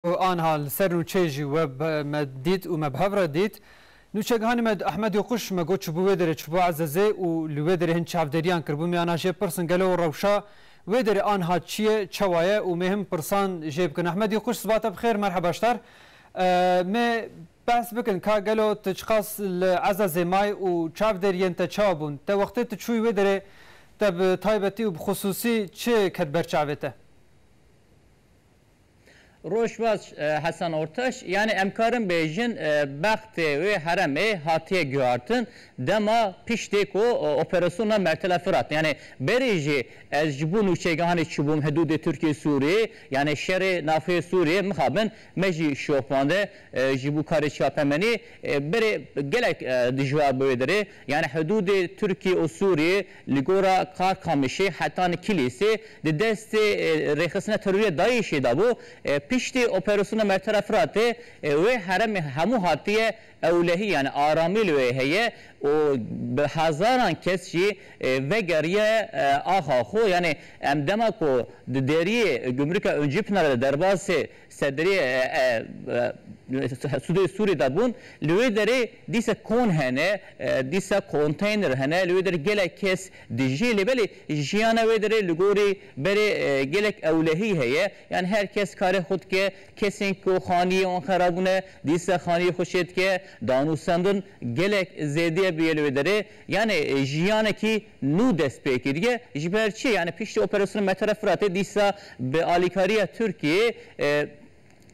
Û anha li ser nûçeyê jî we me dît û me bi hev re dît. Nûçegihanê me di Ehmedê û Quş me got çûbû wê derê çûbû Ezezê û li wê derê hin çavdêriyan kiribû. Mêyan a jê pirsin gelo rewşa wê derê anha çi ye, çewa ye û mêy hin pirsan jê bikin. Ehmedê Quş siba te bi xêr merheba ji tar. Mêy behs bikin ka gelo tu çiqas li Ezezê may û çavdêriyên te çawa bûn. Te wextê tu çûyî wê derê te bi taybetî û bi xusûsî çi ket ber çavê te? Rojbaş Hasan Ortaş, Yanî em karin bêjin bextê wê heremê hatiye guhartin dema piştî ku operasyona Mertila Firat yanî berî jî ez ji bo nûçegehanê çûbûm hidûdê Tirkiyê Sûriyê yanî şerê navxeyê Sûriyê mixabin me jî şopande ji bo karê çapemenî berê gelek dijwar bi wê derê yanî hidûdê Tirkiyê û Sûriyê Li gora Karkamişê Hetan Kilîsê di destê rêxistina terorî ya DAIŞ'ê de bû. Piştî operasyona Mertera Firatê wê heremê hemû hatiye ewlehî yanî aramî li wê heye û bi hezaran kes jî vegeriye axa xwe. Yanî em dema ku di deriyê gumrûka Oncîpinarê de derbasê Sedrê Sûdê Sûrê de bûn. Li wê derê dîsa kon hene, dîsa konteyner hene, li wê derê gelek kes dijî lê belê jiyana wê derê li gorî berê gelek ewlehî heye. Yan her kes karê xwe dike, kesên ku xaniyê wan xerab bûne dîsa xaniyê xwe çêdike, danûsandin gelek zêdî bûye li wê derê. Yanê jiyanekî nû dest pê kiriye. Ji ber çi? Yanî piştî operasyona Metera Firatê dîsa bi alîkariya Tirkiyeyê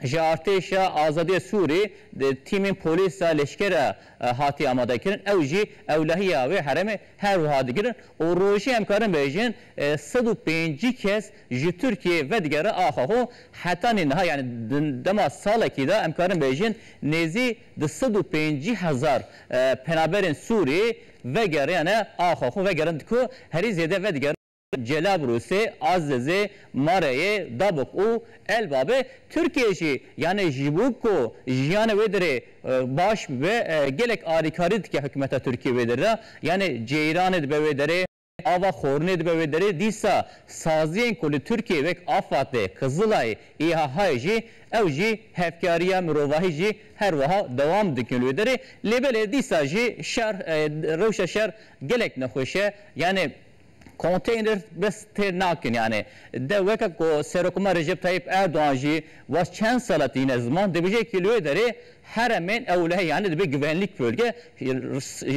ji Artêşa Azadiya Sûrê di tîmên polîsa leşkera hatiye amadekirin. Ew jî ewlehiya wê herêmê her wiha digirin û rojê em karin bêjin sed û pêncî kes ji Tirkiyeyê vedigere axa xwe. Heta nê niha yanî di dema salekî de em karin bêjin nêzî di sed û pêncî hezar penaberên Sûrê Vegeriyane axa xwe vegerind ku herî zêde vedigerin Celabrûsê, Azizê, Mareyê, Dabûk û Elbabê. Tirkiyê jî yanê ji bo ku jiyanê wê derê baş bibe gelek alîkarî dike hikûmeta Tirkiyê wê derê de. Yanê ceyranê dibe wê derê. Ava xornê dibe wê derê, dîsa saziyên ku li Tirkiyeyê wek AFAD'ê, Kızılay'ê, İHA'yê jî, ew jî hevkariya mirovahî jî her wiha dewam dikin li wê derê. Lê belê dîsa jî şer, rewşa şer gelek nexweş e. Yanî konteyner bes têr nakin yanî. De weke ku Serokomar Recep Tayyip Erdogan jî wast çend sala tîne ziman, dibêje ki li wê derê Heremên ewlehe yanî dibe givenlîk bölge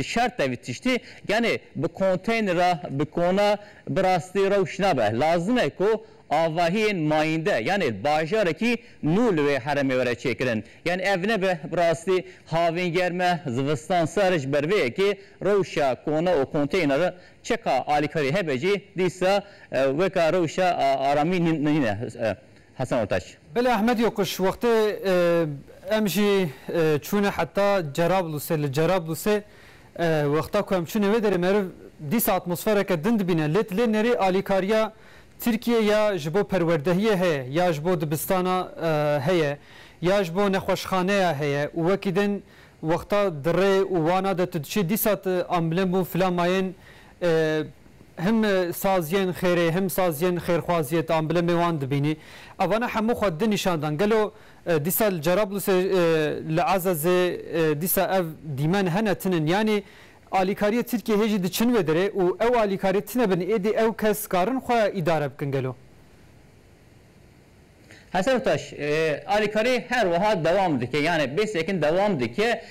şert e vî tiştî yanî bi konteynera bi kona bi rastî rewş nabe. Lazim e ku avahiyên mayînde yanî bajarekî nû li wê heremê were çêkirin. Yanî ev nebe bi rastî havîn germe zivistan sar e ji ber vê yekê rewşa kona û konteynera çeka alîkarî hebe jî dîsa weka rewşa aramî nîne. Hasan Ortaç. Belê Ahmed Yokuş, wextê em jî çûne heta Cerablusê, li Cerablusê wexta ku em çûne wê derê meriv dîsa atmosfereke din dibîne lê dilê nêrê alîkariya Tirkiyê ya ji bo perwerdehiyê heye ya ji bo dibistana heye ya ji bo nexweşxaneya heye û wekî din wexta di rê û wana de tu diçî dîsa tu amblem bû fila mayên Him saziyên xêrê him saziyên xêrxwaziyê tu amblemê wan dibînî. Evane hemû xwe di nîşan dan. Gelo dîsa li Cerablusê li Ezezê dîsa ev dîmen hene tinin. Yanî alîkariyê Tirkiyê hê jî diçin wê derê û ew alîkariyê tine bin êdî ew kes karin xwe îdare bikin gelo? Hesen Taş, Alîkarî her wiha dewam dike yanê bê sekin dewam dike.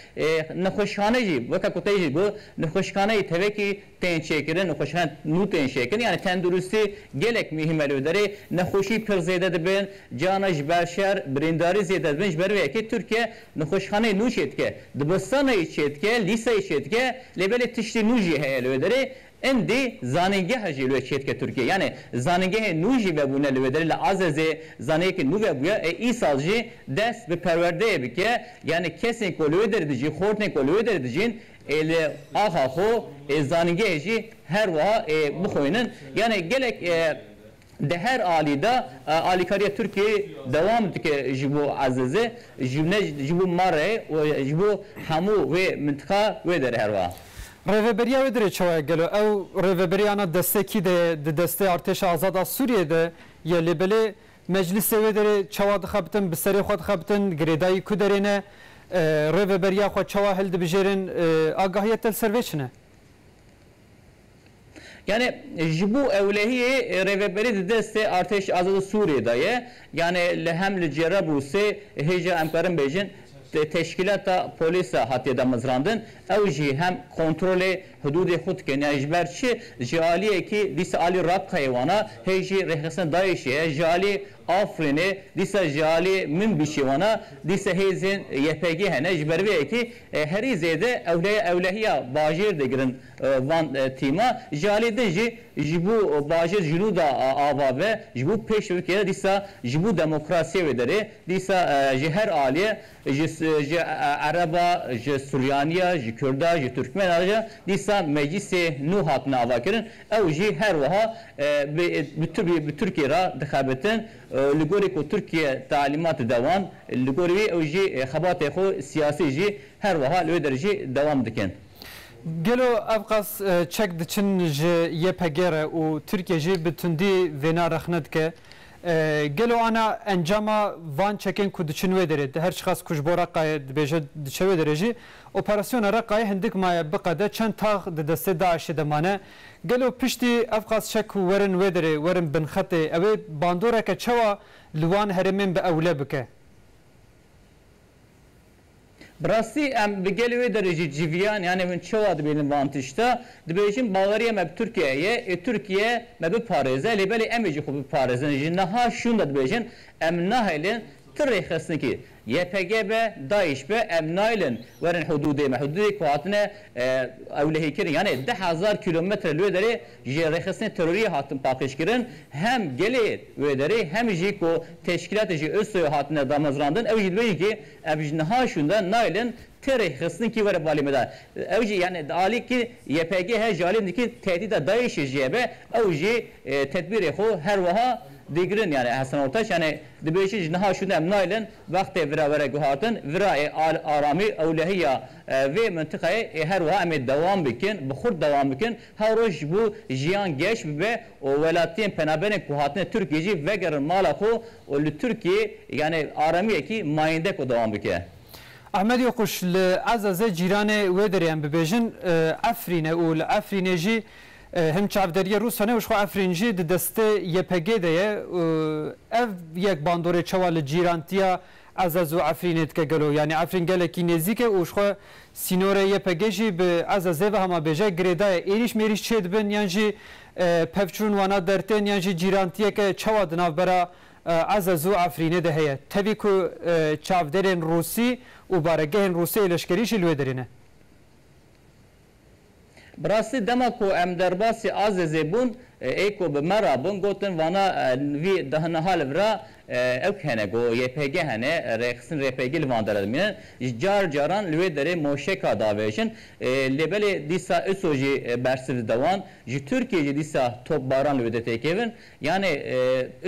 Nexweşxane jî weke ku te jî got nexweşxane jî tevekî tên çêkirin, nexweşxane nû tên çêkirin yanê tenduristî gelek muhîm e li wê derê. Nexweşî pir zêde dibin, cihana ji ber şer, birîndarî zêde dibin. Ji ber vê yekê Tirkiye nexweşxaneyê nû çêdike. Dibistanê jî çêdike, lîseyê çêdike lê belê tiştê nû jî heye li wê derê. Îndî zanîngeha jî li wê çêdike Tirkiyeyê. Yanî zanîngehê nû jî vebûne li wê derê li Azezê zanîngehekî nû vebûye ê îsal jî dest bi perwerdeyê bike. Yanî kesên ku li wê derê dijîn, xortên ku li wê derê dijîn ê li axa xwe ê zanîngehê jî her wiha ê bixwînin. Yanî gelek Di her alî de alîkariya Tirkiyeyê dewam dike ji bo Ezezê, ji ne ji bo Marê û ji bo hemû wê mintiqa wê de re her wiha. Rêveberiya wê dirê çawa ye? Gelo ew rêveberiyana destê kî de ye? Di destê Artêşa Azad a Sûriyeyê de ye lê belê meclîsê wê derê çawa dixebitin, bi serê xwe dixebitin, girêdayî ku derê ne, rêveberiya xwe çawa hildibijêrin, agahiya te li ser vê çi ne? Yanê ji bo ewlehiyê rêveberî di destê Artêşa Azada Sûriyê de ye. Yanê li hem li Cêrebûsê hêja em karin bêjin teşkîlata polîs e hatiye damezrandin. Ew jî hem kontrolê hidûdê xwe dikin. Yanê ji ber çi? Ji aliyekî dîsa aliyê Rakkayê wan e, hê jî rêxistina DAIŞ'ê ye. Ji aliyê Afrînê, dîsa ji aliyê Minbicê wan e. Dîsa hêzên YPG'ê hene. Ji ber vê yekê Herî zêde ewleya ewlehiya bajêr digirin van tîma. Ji alî din jî ji bo bajêr ji nû da ava be, ji bo pêşrivkê de dîsa ji bo demokrasiyê wê derê dîsa ji her aliyê ji ji Ereba, ji Suryaniya, ji Kurda, ji Turkmena re jî dîsa meclîsê nû hatine avakirin. Ew jî her wiha bi bi Tirkiyê re dixebitin. Li gorî ku Tirkiye talîmat dide wan, li gorî wî ew jî xebatê xwe siyasî jî her wiha li wê der jî dewam dikin. Gelo ev qas çek diçin ji YPG re û Tirkiye jî bi tundî vêna rexne dike? Gelo ana encama van çekên ku diçin wê derê, her çiqas ku ji bo Reqayê dibêje diçe wê derê jî, operasyona Reqayê hindik maye biqede çend tax di destê DAIŞ'ê de mane Gelo piştî ev qas çek ku werin wê derê, werin bin xetê, ew ê bandoreke çawa li wan herêmên bi ewle bike? Bi rastî em li gelê wê derê jî civiyan, yanê hûn çawa dibînin van tişta? Dibêjin baweriyê me bi Tirkiyeyê ye, ê Tirkiye me biparêze, lê belê em ê jî xwe biparêzin. Ji niha şûnde dibêjin, em nahêlin ti rêxistinekî, YPG be, DAIŞ be em naylin werin hudûdê me, hudûdê ku hatine ewlehîkirin. Yanê deh hezar kîlometre li wê derê ji rêxistinê terorî hatin paqijkirin. Hem gelê wê derê hem jî ku teşkîlatê ji ISO'yê hatine damezrandin ew jî dibêjin kî ev ji niha şûnde naylin ti rêxistin kî were balê me de. Ew jî yanê di alî kî YPG he ji alî din kî tehdîda DAIŞ'ê jî hebe ew jî tedbîrê xwe her wiha digirin. Yanê Hesen Ortaç yanê Dibêjin ji niha şûnde em naylin wextê vira were guhardin, vira ê aramî ewlehiya vê mintiqeyê ê her wiha em ê dewam bikin, bi xurt dewam bikin, her roj ji bo jiyan geş bibe û welatiyên penaberên ku hatine Tirkiyê jî vegerin mala xwe û li Tirkiyê yanê aramiyekî mayîndek û dewam bike. Ahmed Yoquş li Ezezê cîranê wê derê em bibêjin Efrîn e û li Efrînê jî Hin çavdêriyê Rûs hene û ji xwe Efrîn jî di destê YPG'ê de ye. Ev yek bandorê çawa li cîrantiya Ezez û Efrînê dike gelo? Yanî Efrîn gelekî nêzîk e û ji xwe sînorê YPG'ê jî bi Ezezê ve hema bêje e. Girêda ye êrîş mêrîş çê dibin yan jî pevçûn wana der tên yan jî cîrantiyeke çawa di navbera Ezez û Efrînê de heye? Tevî ku çavdêrên Rûsî û baregehên Rûsê yê leşkerî jî li wê derê ne. Bi rastî dema ku em derbasî Azezê bûn ê ku bi me re bûn gotin vana vî niha li vir e ewk hene ku YPG hene rêxistin rêpegî li van derê dimînin ji car caran li wê derê moşeka davêjin lê belê dîsa ISO jî bersiv dide wan ji Tirkiyê jî dîsa topbaran li wê de têkevin Yanî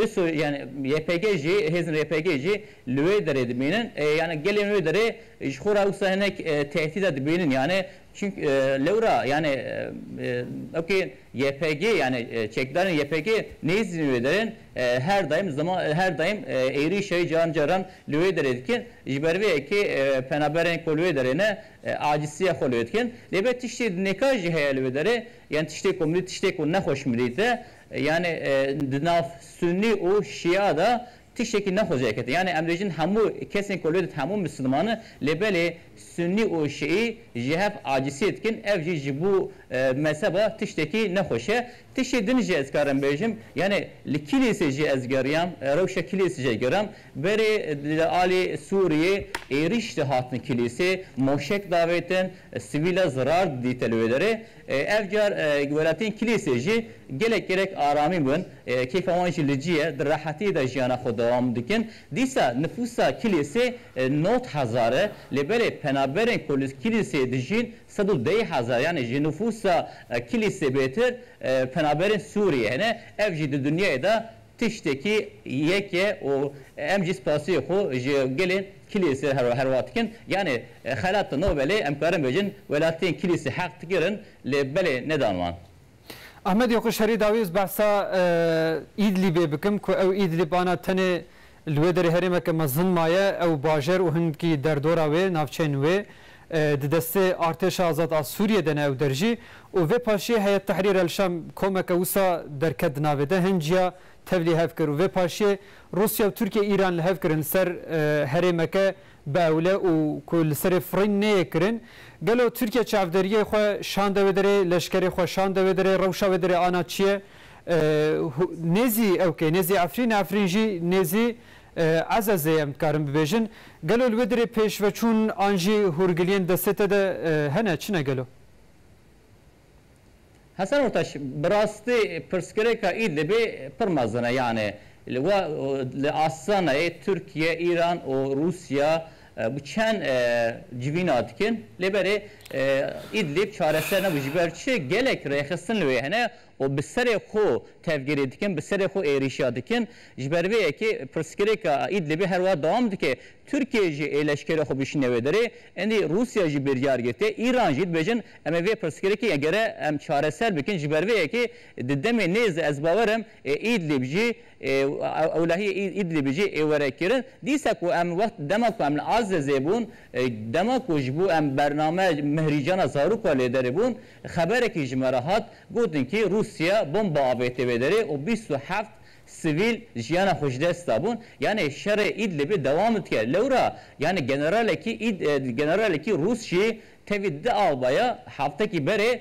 ISO yanî YPG jî hêzên YPG jî li wê derê dibînin. Yanî gelên wê derê ji xwe re wisa hinek tehdîda dibînin yanî çimk lewra yanî ok YPG yanî çekdarên YPG nêzînin wê derê her daîm zima her daîm êrîşa wê caran caran li wê derê dikin ji ber vê yekê penaberên ku li wê derê ne acîsiya xwe li wê dikin. Lê be tiştê di nêka jî heye li wê derê yanî tiştê ku mirî tiştê ku nexweş mirî te Yanî di nav sunî û şîa de tiştekî ne xwecê ket e. Yanî em dibêjin hemû kesên ku li did hemû misliman in lê belê sunî û şîî ji hev acîsiyê dikin ev jî ji bo mezheba tiştekî ne xweş e. Tiştê din jî ez dikarim bêjim yanî li kîlîsê jî ez geriyam rewşa kîlîsê jî gerim berê li alî Sûriyê êrîş dihatin kîlîsê moşek davêtin sivîl e zirar didîte li wê derê Ev car guhelatiyên Kilîsê jî gelek gerek aramî bûn, kêfa wan jî li cî ye, di rehetiyê de jiyana xwe dewam dikin. Dîsa nifûsa Kilîsê nod hezar e, lê belê penaberên ku li Kilîsê dijîn sed û deh hezar yanî ji nifûsa Kilîsê bêtir penaberên Sûriyê hene, ev jî di dinyayê de Tiştekî yek e û em jî spasiyê xwe ji gelê Kilîsê re herwa dikin. Yanî xelat no belê em karin bêjin welatiyên Kilîsê heq digirin lê belê nedan wan. Ahmet Yokuş herî dawî ez behsa Îdlîbê bikim ku ew Îdlîb ana tenê li wê derê herêmeke mezin maye, ew bajer û hingî derdora wê, navçeyên wê, Di destê Artêşa Azad a Sûriyê de ne ew der jî û vê paşiyê Heyet Tehrîr El Şam komeke wisa derket di navê de hin ciya tevlî hev kir û vê paşiyê Rûsya û Tirkiye Îran li hev kirin li ser herêmeke bi ewle û ku li serê firîn neyê kirin. Gelo Tirkiye çavderiyê xwe şande wê derê, leşkerê xwe şande wê derê, rewşa wê derê ana çi ye? Nêzî ew kê? Nêzî Efrîn e? Efrîn jî nêzî Ezezê em dikarin bibêjin. Gelo li wê dirê pêşveçûn an jî hûrgiliyên destê te de hene, çi ne gelo? Hesen Ortaş, Bi rastî pirsgirêka Îdlibê pir mezin e. Yanê we li Astanayê Tirkiye, Îran û Rûsya bi çend civîna dikin. Lê belê Îdlib çareser nebû. Ji ber çi? Gelek rêxistin li wê hene û bi serê xwe tevgirê dikin, bi serê xwe êrîşa dikin. Ji ber vê yekê pirsgirêka Îdlibê her wiha dewam dike. Tirkiye jî ê leşkerê xwe bişîne wê derê. Îndî Rûsya jî biryar girtiye, Îran jî dibêjin em ê vê pirsgirêkê gere em çareser bikin. Ji ber vê yekê di demê nêz de ez bawer im ê Îdlib jî ewlehiyê Îdlibê jî ê were kirin. Dîsa ku em wext dema ku em li Azezê bûn, dema ku ji bo em bername mihrîcana zarok a lê derê bûn, Xeberekî ji me re hat, gotin kî Rûsya bomba avêtiye vê derê û bîst û heft sivîl jiyana xwe ji dest dabûn. Yanê şerê Îdlibê dewam dike. Lewra yanê generalekî Îd generalekî Rûs jî tevî di albaya heftekî berê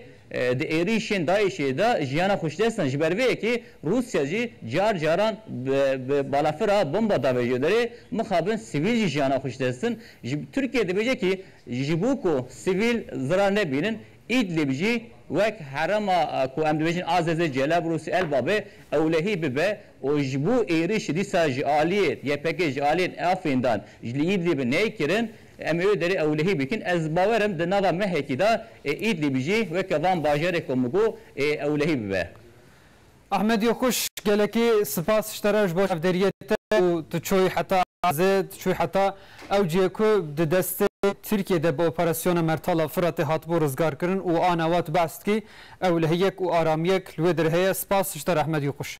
di êrîşên DAIŞ'ê de jiyana xwe ji dest dan. Ji ber vê yekê Rûsya jî car caran bi bi balafira bomba davêje derê mixabin sivîl jî jiyana xwe ji dest din. Ji Tirkiye dibêje kî, Ji bo ku sivîl zirar nebînin, Îdlîb jî wek herêma ku em dibêjin Azezê, Celebrûsê, Elbabê, ewlehî bibe û ji bo êrîş dîsa ji aliyê YPG'ê ji aliyê Afrîndan ji li Îdlîb neykirin, em ê wê derê ewlehî bikin. Ez bawer im di nava mehekî de ê Îdlîb jî weke van bajarê ku min got ê ewlehî bibe. Ahmed Yokuş, gelekî sipas ji te re ji bo çavdêriyê te û tu çûyî heta Azê, tu çûyî heta ew cihê ku di destê Tirkiyê de bi operasyona Mertala Firatê hatibû rizgarkirin û ana wat behs dikî, ew lehiyek û aramiyek li wê dir heye, sipas ji te re Ahmed Yokuş.